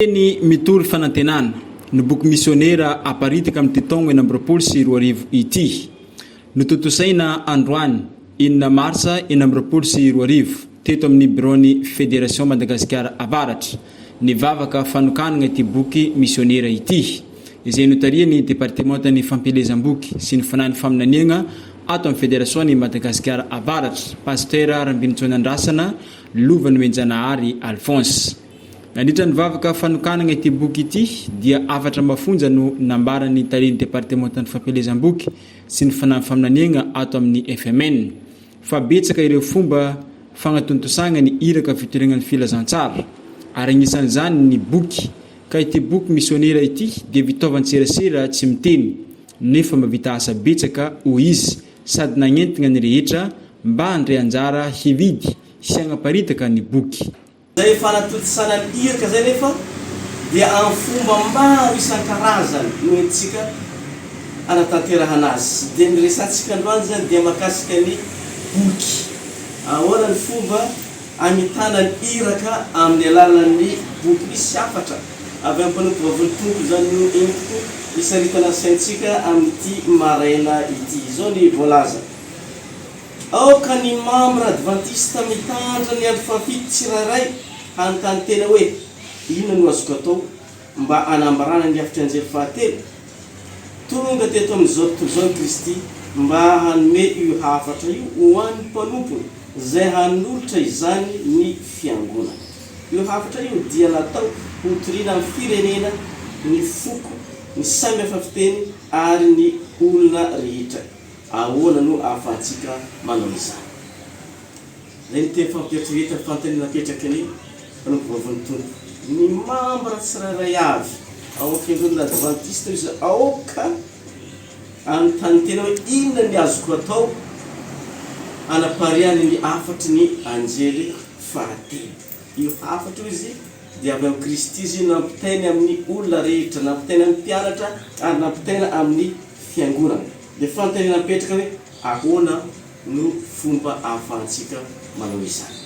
Teny mitory fanantenana no boky misionera aparitaka amin'ity taogna enina amby roapolo sy roa arivo ity. Notontosaina androany, enina marsa enina amby roapolo sy roa arivo, teto amin'ny biraon'ny Federation Madagasikara Avaratra, ny vavaka fanokanana ity boky misionera ity, izay notarihan'ny Departemantan'ny Fampielezam-boky sy ny Fanahin'ny Faminaniagna ato amin'ny Federasion'i Madagasikara Avaratra, Pasitera Rambinintsoanandrasana Lovanoenjanahary Alphonse. Nandritra ny vavaka fanokanana ity boky ity dia hafatra mafonja no nambaran'ny Talen'ny Departemantan'ny Fampielezam-boky sy ny Fanamby Faminaniagna ato amin'ny fmn fa betsaka ireo fomba fagnatontosagna ny iraka fitoregnan'ny filazantsara ary agnisan'izany ny boky ka ity boky Misionera ity dia vitaovan-tserasera tsy miteny nefa mavita asa betsaka hoy izy sady nagnentigna ny rehetra mba handre anjara hividy sy hagnaparitaka ny boky Izay fanatontosana ny iraka izay anefa dia amin'ny fomba maro isan-karazany no entintsika hanatanterahana azy. Dia ny resahantsika androany izany dia mahakasika ny boky. Ahoana ny fomba hamitana ny iraka amin'ny alalan'ny boky? Misy hafatra avy amin'ny mpanompo Vavon'ny Tompo izany no entiko hisaritana ny saintsika amin'ity maraina ity. Izao ny voalaza. Aoka ny mambra advantista mitandra ny andro fahafito tsirairay hanontany tena hoe, Inona no azoko atao mba hanambarana ny hafitry anjely fahatelo? Tonga teto amin'izao tontolo izao i Kristy mba hanome io hafatra io ho an'ny mpanompony izay hanolotra izany ny Fiangonana. Io hafatra io dia natao hotoriana amin'ny firenena, ny foko, ny samy hafa fiteny ary ny olona rehetra. Ahoana no ahafahantsika manao izany? Izay no teny fampieritreretany, fanontaniana apetraky ny Mpanompovavon'ny Tompo. Ny mambra tsirairay avy ao amin'ny Fiangonana Advantista hoy izy, aoka hanontany tena hoe, Inona ny azoko atao hanapariahana ny hafatry ny anjely fahatelo? Io hafatra io, hoy izy, dia avy amin'i Kristy izy nampitainy amin'ny olona rehetra, nampitainy amin'ny mpianatra ary nampitaina amin'ny fiangonana. Dia fanontaniana mipetraka hoe, ahoana no fomba ahafahantsika manao izany?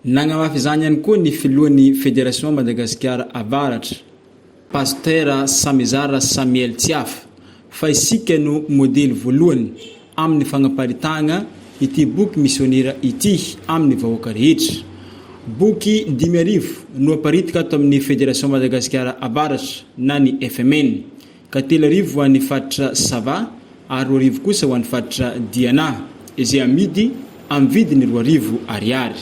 Nagnamafy izany ihany koa ny filohan'ny Federation Madagasikara Avaratra, Pasteur Samizara Samuel Tsiafa, fa isika no modely voalohany amin'ny fagnaparitahagna ity boky misionera ity amin'ny vahoaka rehetra. Boky dimy arivo no aparitaka ato amin'ny Federation Madagasikara Avaratra na ny FMN, ka telo arivo ho an'ny faritra Sava ary roa arivo kosa ho an'ny faritra Diana, izay amidy amin'ny vidiny roa arivo ariary.